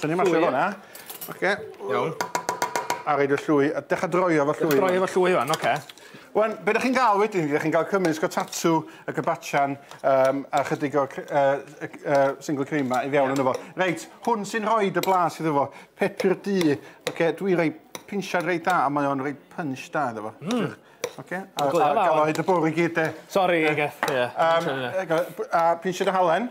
Tynnu mas llwy hwnna. Oce. Iawn. A reid y llwy, a dech a droi efo llwy. Droi efo llwy hwn, oce. Wan, be da chi'n gael wedyn, da chi'n gael cymryd sgo tatw y gybatchan um, a chydig o uh, uh, single cream ma i fewn yn efo. Reit, hwn sy'n rhoi dy blas iddo fo. Pepur du. Oce, dwi roi pinsiad reit da, a mae o'n roi punch da iddo fo. Mm. Oce, a, a gael oed y bwrw i gyd de. Sorry, Geth, ie. A pinsiad o halen.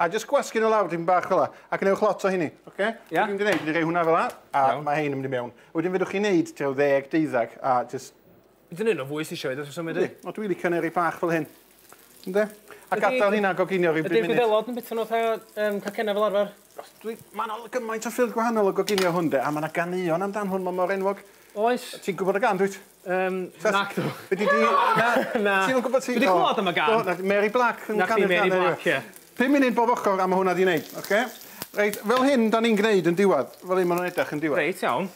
A jyst gwasgu nhw lawr dipyn bach fel la, a gwnewch lot o hynny, oce? Okay? Ia. Dwi'n mynd i wneud, dwi'n rhoi hwnna fel la, a Iawn. mae hein yn mynd i mewn. Wedyn fedrwch chi wneud tua ddeg, deuddag, a jyst... Dwi'n un o fwy sy'n siarad wrth reswm wedyn. Yndi, o dwi'n licio neu rei bach fel hyn. Ynde? A gadael hynna goginio rhyw bum munud. Ydy'r gwyddelod yn bita nhw fatha um, cacennau fel arfer? Os dwi... Mae yna gymaint o ffyrdd gwahanol o goginio hwn de, a mae yna ganeuon amdan hwn, mae mor enwog. Oes. Ti'n gwybod y gan, dwyt? Yym, nacdw. Be di di... Na, na. Ti'm yn gwybod ti... Dwi di clywed am y gan. Do, Mary Black yn canu'r gan. Mary Black, ie. Pum munud bob ochr am hwnna di wneud, oce? Reit, fel hyn da ni'n gwneud yn diwedd. Fel hyn maen nhw'n edrych yn diwedd. Reit, iawn.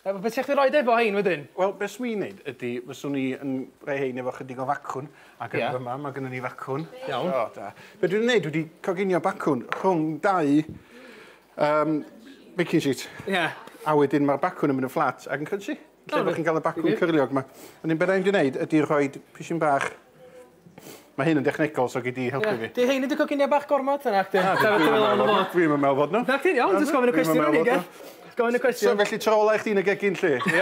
Wel, beth sy'ch chi'n rhoi efo hein wedyn? Wel, beth swn i'n neud ydy, fyswn i yn rhoi hein efo chydig o facwn, ac yn yma, mae gennym ni facwn. Iawn. O, da. Be dwi'n neud, dwi wedi coginio bacwn rhwng dau Um, baking sheet. Ie. Yeah. A wedyn mae'r bacwn yn mynd yn fflat ac yn cynsi. Lle oh, chi'n cael y bacwn cyrliog yma. Yn un beth rhaid i wneud ydy rhoi pisyn bach Mae hyn yn dechnegol, so gyd i helpu yeah. fi. Di hyn i dy coginio bach gormod yna, ac ah, dyn. Dwi'n mynd meddwl fod nhw. Na, ti'n iawn, dwi'n gofyn y cwestiwn o'n i, ge? Gofyn y cwestiwn. So, felly trola i chdi'n y gegin, lle? Ie.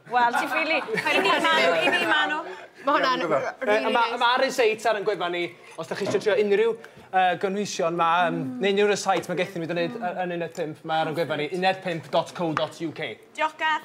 Wel, ti'n ffili. I ni Manu, i ni Manu. Mae hwnna'n rili neis. Mae Aris Eitz ar yn gwefan ni, os da chi eisiau trio unrhyw gynhwysion ma, neu unrhyw rysáit mae gethyn ni, da ni'n neud yn uned 5, mae ar yn gwefan ni, uned5.co.uk. Diolch Garth.